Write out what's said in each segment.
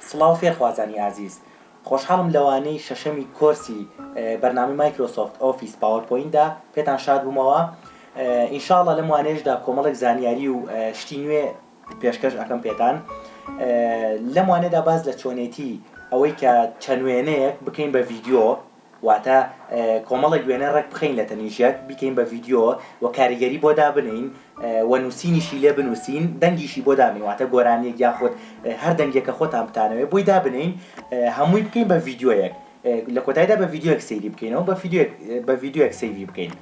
سڵاو فێرخوازانی ئازیز، خۆشحاڵم لەوانەی شەشەمی کۆرسی بەرنامەی مایکرۆسۆفت ئۆفیس پاوەرپۆینتدا پێتان شاد بوومەوە، ان شاء اللە لەم وانەیەشدا کۆمەڵێک زانیاری و شتی نوێ پێشکەش ئەکەم پێتان، لەم وانەیەدا باس لە چۆنێتی ئەوەی کە چەند وێنەیەک بکەین بە ڤیدیۆ، واتە کۆمەڵێک وێنە ڕێک بخەین لە تەنیشت یەک، بیکەین بە ڤیدیۆ و کاریگەری بۆ دابنێین و نووسینیشی لێ بنووسین، دەنگیشی بۆ دابنێین، واتە گۆرانییەک یاخود هەر دەنگێک کە خۆتان بتانەوێت بۆی دابنێین، هەمووی بکەین بە ڤیدیۆیەک، لە کۆتاییدا بە ڤیدیۆیەک سەیری بکەینەوە، بە ڤیدیۆیەک سەیری بکەین.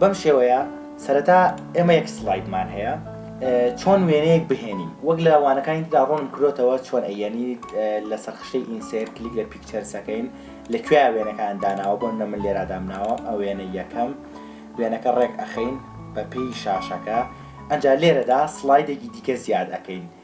بەم شێوەیە سەرەتا ئێمە یەک سڵایدمان هەیە چۆن وێنەیەک بهێنین وەک لە وانەکانی تدا ڕۆنم کرۆتەوە چۆن ئەیەنی لە سەرخشتەی ئینسێر کلیک لە پیکچەرسەکەین لە کوێ وێنەکان داناوە بۆن نە من لێرا دامناوە ئەو وێنە یەکەم وێنەکە ڕێک ئەخەین بە پێی شاشەکە ئەجا لێرەدا سلایدێکی دیکە زیاد ئەەکەین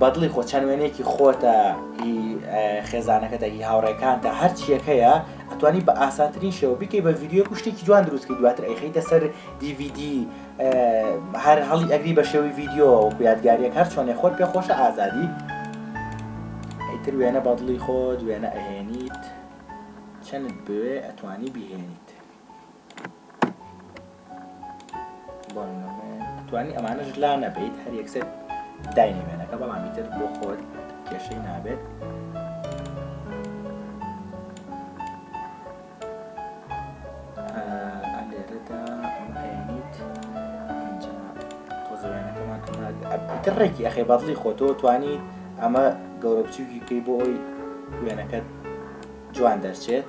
بەدڵی خۆ چەند وێنەیەکی خۆتە هی خێزانەکەتە هی هاوڕێکانتە هەرچیەک هەیە ئەتوانی بە ئاسانترین شێوە بکەی بە ڤیددیو و شتێکی جوان دروستکە دواتر ئەیخیتە سەر دیVD هەر هەڵی ئەگری بە شێوی ڤیددیو وەکو یادگاریەک هەر چۆنێ خۆت پێ خۆشە ئازادی ئیتر وێنە بەدڵی خۆت وێنە ئەهێنیت چەند بوێ ئەتوانی بهێنیت توانی ئەمانەش لا نەبیت هەر یەکسەر داینی وێنەکە بەڵامی تر بۆ خۆت کێشەی نابێت تر ڕێکی ئەخێ بەدڵی خۆتۆ توانی ئەمە گەورە بچووکی پێی بۆ ئەوی وێنەکەت جوان دەرچێت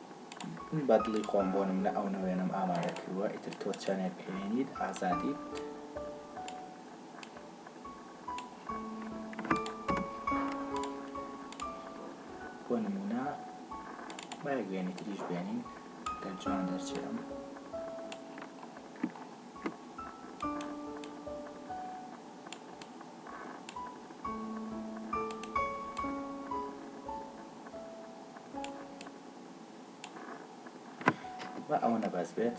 من بە دڵی خۆم بۆ نمونە ئەو نەوێنەم ئامادە کردووە ئیتر تۆ چەنێک بهێنیت ئازادیت بۆ نمونە بایەک بێنی تریش بێنین گەر جوان دەرچێم با ئەوەنە بەس بێت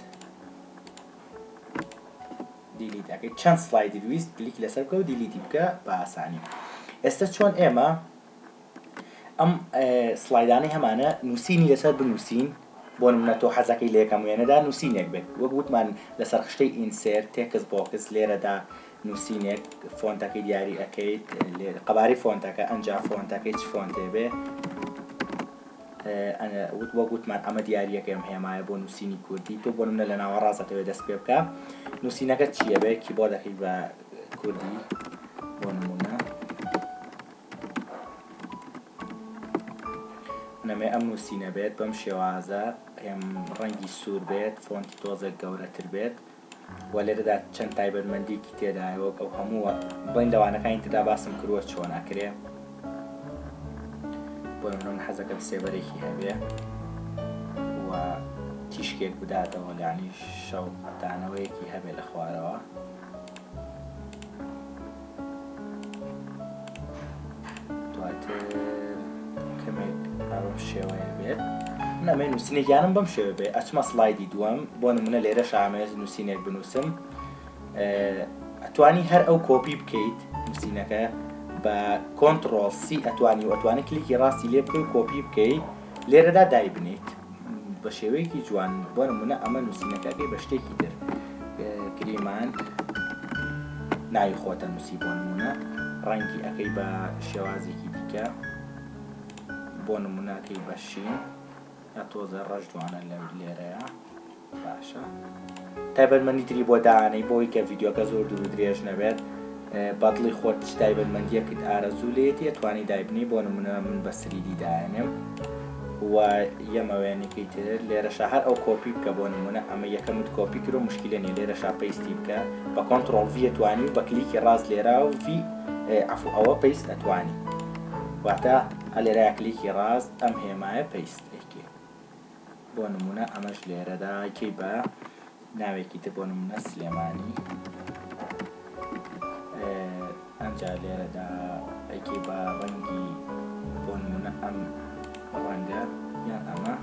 دیلیت ئەەکەی چەند سلایدی ویست کلیک لەسەر بکە و دیلیتی بکە بە ئاسانی ئێستا چۆن ئێمە ئەم سلایدانەی هەمانە نووسینی لەسەر بنووسین بۆ منە تۆ حەزەکەی لەکەم وێنەدا نووسینێک بێت وەک وتمان لەسەر خشتەی ئینسێر تێکس بۆکس لێرەدا نوسینێک فۆنتەکەی دیاری ئەکەیت لێرە قەبارەی فۆنتەکە ئەنجا فۆنتەکەی چ فۆنتێ بێ وت وە گوتمان ئەمە دیارریەکەم هێمایە بۆ نووسینی کوردی تۆ بۆ منە لە ناوە ڕاستەوێ دەست پێ بکە نووسینەکە چییە بێ کیبۆردەکەی بە کوردی بۆ نمونە نەمێ ئەم نووسینە بێت بەم شێوازە ئێم ڕەنگی سوور بێت فۆنتی تۆزێک گەورەتر بێت و لێرەدا چەند تایبەتمەندیەکی تێدایە وەک ئەو هەمووە بڵین لەوانەکانی تردا باسم کروە چۆن ئەکرێ بۆ من حەزەکەم سێبەرێکی هەبێ و تیشکێک بداتەوە لانی شەو دانەوەیەکی هەبێ لە خوارەوە دواتر کەمێک ئەم شێوەیە بێت نامێ نووسینێکیانم بەم شێوە بێ ئەچمە سلایدی دووەم بۆ نمونە لێرە شامێز نووسینێک بنووسم ئەتوانی هەر ئەو کۆپی بکەیت نووسینەکە بە کۆنتترۆل سی ئەتوانی و ئەتوانی کلیکی ڕاستی لێ بکەی کۆپی بکەیت لێرەدا دایبنیت بە شێوەیەکی جوان بۆ نمونە ئەمە نووسینەکەەکەی بە شتێکی تر گریمان ناوی خۆتە نووسی بۆ نمونە ڕەنگی ئەەکەی بە شێوازێکی دیکە بۆ نمونوناکەی بەشین ئەتۆزە ڕەش جوانە لە لێرەیە باشە تایبەتمەندی تری بۆ دانەی بۆی کە ڤیددیوکە زۆر دوور درێژ نەبێت بەدڵی خۆت چ تایبەتمەندیەکت ئارەزوو لێتی ئەتوانی دایبنی بۆ نمونە من بە سریدی داێنم و یەمەوێنێکی تر لێرەشە هەر ئەو کۆپی بکە بۆ نمونە ئەمە یەکەمت کۆپی کرۆ مشکلە نیە لێرە شاپەیستی بکە بە کۆنتترۆڵ ڤەتوانی و بە کلیکی ڕاست لێرا و ڤی ئەف ئەوە پێیست ئەتوانی واتە ئەلێرا کلیکی ڕاست ئەم هێمایە پێیست بۆ نمونە ئەمەش لێرەدا کەی بە ناوێکی تر بۆ نمونە سلێمانی ئەمجا لێرەدا ئەکی بە ڕەنگی بۆ نمونە ئەم ڕەنگە یان ئەمە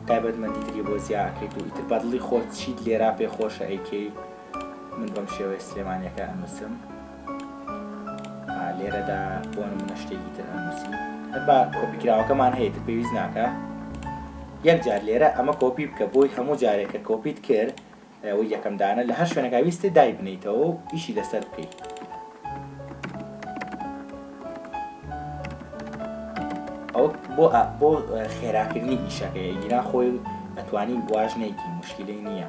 تایبەتمەندی تری بۆ زیاکەیت و ئیتر بەدڵی خۆت چیت لێرا پێ خۆشە ئەیکەی من بەم شێوەیە سلێمانیەکە ئەنووسم لێرەدا بۆ نمونە شتێکی تر ئەنووسی با کۆپیکراوەکەمان هەیە تر پێویست ناکە یەک جار لێرە ئەمە کۆپی بکە بۆی هەموو جارێک کە کۆپیت کرد و یەکەم دانە لە هەر شوێنەکە ویستێ دای بنیتەوە و ئیشی لەسەر بکەیت ئەو بۆ بۆ خێراکردنی ئیشەکەی گیرا خۆی ئەتوانی واژنێکی مشکلی نییە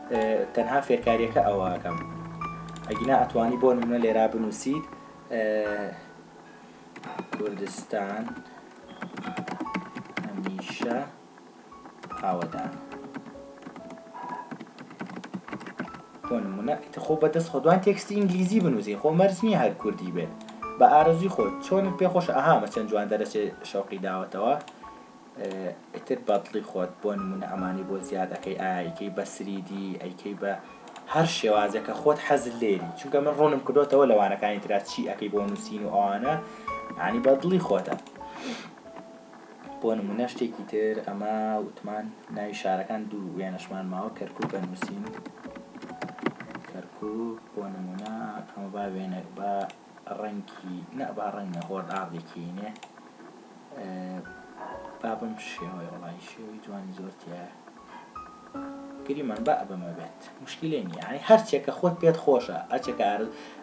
تەنها فێرکاریەکە ئەوە ئەکەم ئەگینا ئەتوانی بۆ نمونە لێرا بنوسیت کوردستان هەمیشە ئاوەدان بۆ نمونە خۆ بەدەست خۆدوان تێکستی ئینگلیزی بنووسی خۆ مەرج نییە هەر کوردی بێت بە ئارەزوی خۆت چۆنت پێ خۆش ئەها بە چەند جوان دەرەچێ شەوقی داوەتەوە ئیتر بەدڵی خۆت بۆ نمونە ئەمانی بۆ زیاد ئەکەی ئایا ئەیکەی بە سریدی ئەیکەی بە هەر شێوازێک کە خۆت حەزت لێری چونکە من ڕوونم کردوتەوە لە وانەکانی ترا چی ئەەکەی بۆ نووسین و ئەوانە عنی بە دڵی خۆتە بۆ نمونە شتێکی تر ئەمە وتمان ناوی شارەکان دوو وێنەشمان ماوە کەرکک بە نووسین کەرکک بۆ نمونە ئەمە با وێنە با ڕەنگی نە با ڕەنگ نە هۆرد ئاردێکینێ با بم شێوەی وڵی شێوی جوانی زۆرتیە گریمان با بەمە بێت مشکلێ نیە ئەی هەرچێکە خۆت پێت خۆشە ئەچێکە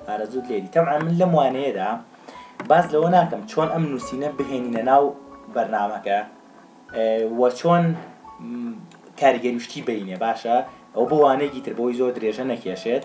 ئارەزوت لێری تەعا من لەم وانەیەدا باز لەوە ناکەم چۆن ئەم نووسینە بهێنینە ناو بەرنمەکە وە چۆن کاریگەریشتی بینێ باشە ئەو بۆ وانەیەکی تر بۆی زۆر درێژە نەکێشێت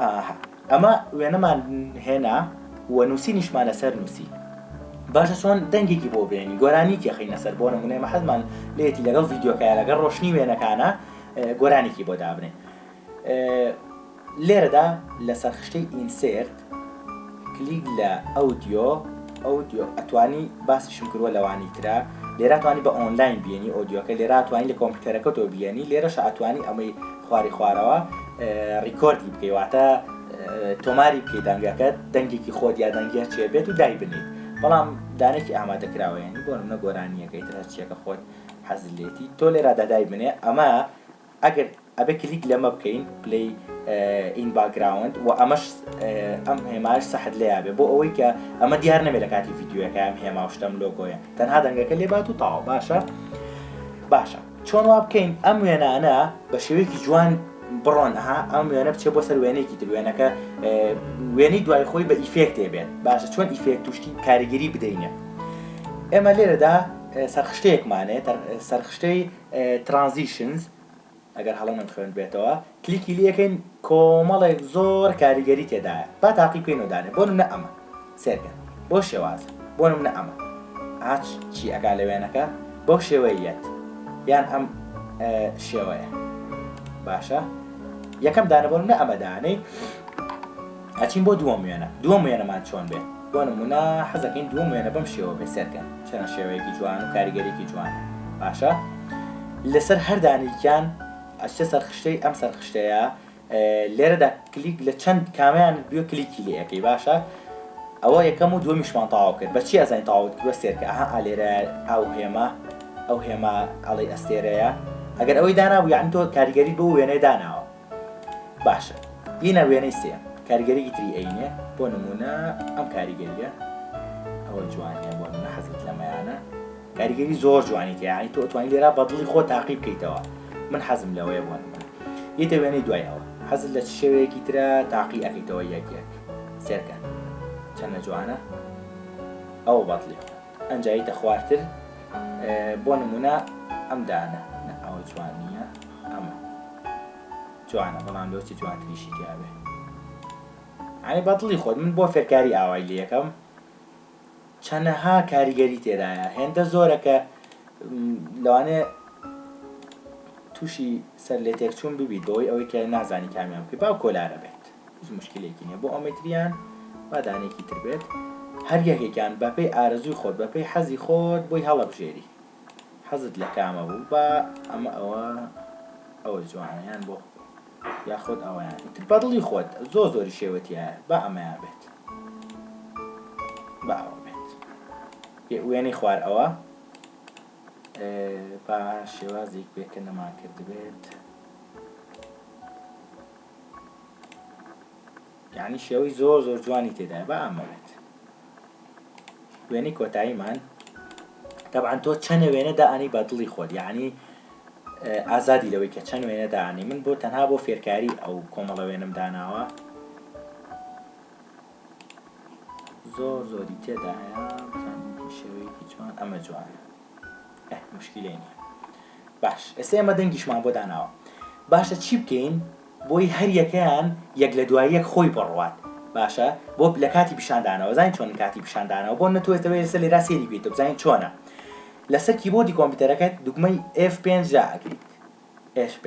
ئاها ئەمە وێنەمان هێنا و نووسینیشمان لەسەر نووسی. باشە چۆن دەنگێکی بۆ بێنین گۆرانیکی خینە سەر بۆ نمونە ئێمە حەزمان لێتی لەگەڵ ڤیدیۆکە لەگەڵ ڕۆشنی وێنەکانە گۆرانیکی بۆ دابنێ لێرەدا لەسەر خشتەی ئینسێرت کلیک لە ئەودیۆ Audio ئەتوانی باسیشم کردوە لەوانی ترە لێرە توانی بە ئۆنلاین بیێنی ئۆدیۆکە لێرا توانی لە کۆمپیوتەرەکە تۆ بیێنی لێرەش ئەتوانی ئەمەی خواری خوارەوە ڕیکۆردی بکەی واتە تۆماری بکەی دەنگەکەت دەنگێکی خۆ یا دەنگە چێ بێت و دایبنیت بەڵام دانێکی ئامادەکراوەیانی بۆ منە گۆرانیەکەی ترچیەکە خۆت حەزلێتی تۆ لێرا دادای بنێ ئەمە ئەگەر ئەبێ کلیک لەمە بکەین پلەی ئین باکگراوند و ئەمەش ئەم هێماش سەحت لێ یابێ بۆ ئەوەی کە ئەمە دیار نەبێت لە کاتی یددیوەکە ئەم هێما شتم لۆگۆیە تەنها دەنگەکە لێ بات و تاوا باشە باشە چۆن وا بکەین ئەم وێنانە بە شێوەیەکی جوان بڕۆن ها ئەم وێنە بچێ بۆ سەر وێنێکی تر وێنەکە وێنەی دوای خۆی بە ئیفێکتێ بێت باشە چۆن ئیفێک توشتی کاریگەری بدەینە ئێمە لێرەدا سەرخشتەیەکمانێت سەرخشتەی Transitions، ئەگەر هەڵە نەم خوێندبێتەوە، کلیکی لێ کەین کۆمەڵێک زۆر کاریگەری تێدایە با تاقی بکەین و دانێ بۆ نمونە ئەمە سێرکە بۆ شێوازە بۆ نمونە ئەمە ئاچ چی ئەکا لە وێنەکە بەو شێوەیە یەت یان ئەم شێوەیە باشە یەکەم دانە بۆ نمونە ئەمە دانەی ئەچین بۆ دووەم وێنە دووەم وێنەمان چۆن بێت بۆ نمونە حەزەکەین دووەم وێنە بەم شێوە بێت سێرکەن چەنە شێوەیەکی جوان و کاریگەریەکی جوانە باشە لەسەر هەر دانیکیان ئەچتە سەر خشتەی ئەم سەر خشتەیە لێرەدا کلیک لە چەند کامیان بێ کلیکی لەکەی باشە ئەوە یەکەم و دومیشمان تاوا کرد بەچی ئەزین تاوت کرد سێرکە ئەها ئالێرە ئەو هێمە ئەو هێمە ئەڵی ئەستێرەیە ئەگەر ئەوەی دانابوو یان تۆ کاریگەری بۆ وێنەی داناوە باشە ئینە وێنەی سێیەم کاریگەریی تری ئەینێ بۆ نموونە ئەم کاریگەرییە ئەوە جوانیە بۆ نمونە حەزت لەمەیانە کاریگەری زۆر جوانی تێ یعنی تۆ ئەتوانی لێرا بە دڵی خۆ تاقی بکەیتەوە من حەزم لەوەیە بۆ نمونە ئیتە وێنەی دوای ئەوە حەزت لە چ شێوەیەکی ترە تاقی ئەکەیتەوە یەک یەک سێرکە چەنە جوانە ئەوە بەدڵی خۆ ئەنجاییتە خوارتر بۆ نمونە ئەم دانە ئەوە جوان نییە ئەمە جوانە بەڵام لۆچی جوانتریشی تیاێ ئەی بەدڵی خۆت من بۆ فێرکاری ئاوای لە یەکەم چەنەها کاریگەری تێدایە هێندە زۆرە کە لەوانێ تووشی سەر لێ تێکچوون ببیت بەوەی ئەوەی کە نازانی کامیان بکە باو کۆلارە بێت هیچ موشکیلەیەکی نیە بۆ ئەومیتریان با دانەیەکی تر بێت هەر یەکێکیان بەپێی ئارەزووی خۆت بەپێی حەزی خۆت بۆی هەڵەبژێری حەزت لە کامە بوو با ئەمە ئەوە ئەوە جوانیان بۆ یاخود ئەویان تر بەدڵی خۆت زۆ زۆری شێوەتیە با ئەمەیان بێت باوە بێت پێ وێنەی خوار ئەوە با شێوازێک بێت کە نەمان کردبێت یانی شێوەی زۆر زۆر جوانی تێدایە با ئامەوێت وێنەی کۆتاییمان تەبعەن تۆ چەنە وێنە دائنی بە دڵی خۆت یعنی ئازادی لەوەی کە چەند وێنە داانی من بۆ تەنها بۆ فێرکاری ئەو کۆمەڵە وێنم داناوە زۆر زۆری تێدایە شێوەیەکی جوان ئەمە جوانە ئەه موشکیلەی نیە باش ئێستا ئێمە دەنگیشمان بۆ داناوە باشە چی بکەین بۆی هەر یەکەیان یەک لە دوای یەک خۆی بڕوات باشە بۆ لە کاتی پیشاندانەوە زانین چۆن کاتی پیشاندانەوە بۆ نەتوێتەوە ئێستا لێرا سێری بیت بزانین چۆنە لەسەر کیبۆردی کۆمپیوتەرەکەت دوگمەی F5 جا ئەگریت F5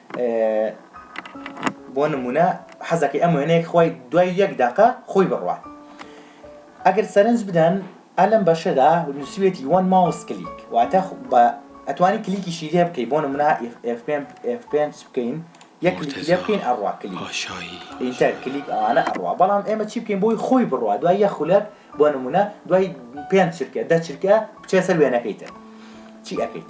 بۆ نمونە حەزەکەی ئەم وێنەیەک خۆی دوای یەک داقە خۆی بڕوا ئەگەر سەرنج بدەن ئەلم بەشەدا نووسویەتی وەن ماوس کلیک واتە بە ئەتوانی کلیکیشی لێ بکەی بۆ نمونە F5 بکەین یەک کلیکی لێ بکەین ئەڕوا کلیک ئینتەر کلیک ئەوانە ئەڕوا بەڵام ئێمە چی بکەین بۆی خۆی بڕوا دوای یە خولەک بۆ نمونە دوای پێنج چرکە دە چرکە بچێ سەر وێنەکەی تر چی ئەەکەیت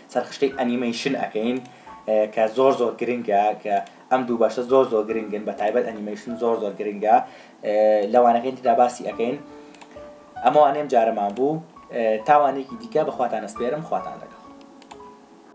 سەرخشتەی ئەنیمەیشن ئەکەین کە زۆر زۆر گرنگە کە ئەم دوو بەشە زۆر زۆر گرنگن بە تایبەت ئەنیمەیشن زۆر زۆر گرنگە لەوانەکەین تدا باسی ئەەکەین ئەمەوانێم جارەمان بوو تاوانێکی دیکە بەخواتانە سپێرم خواتان لەگەڵ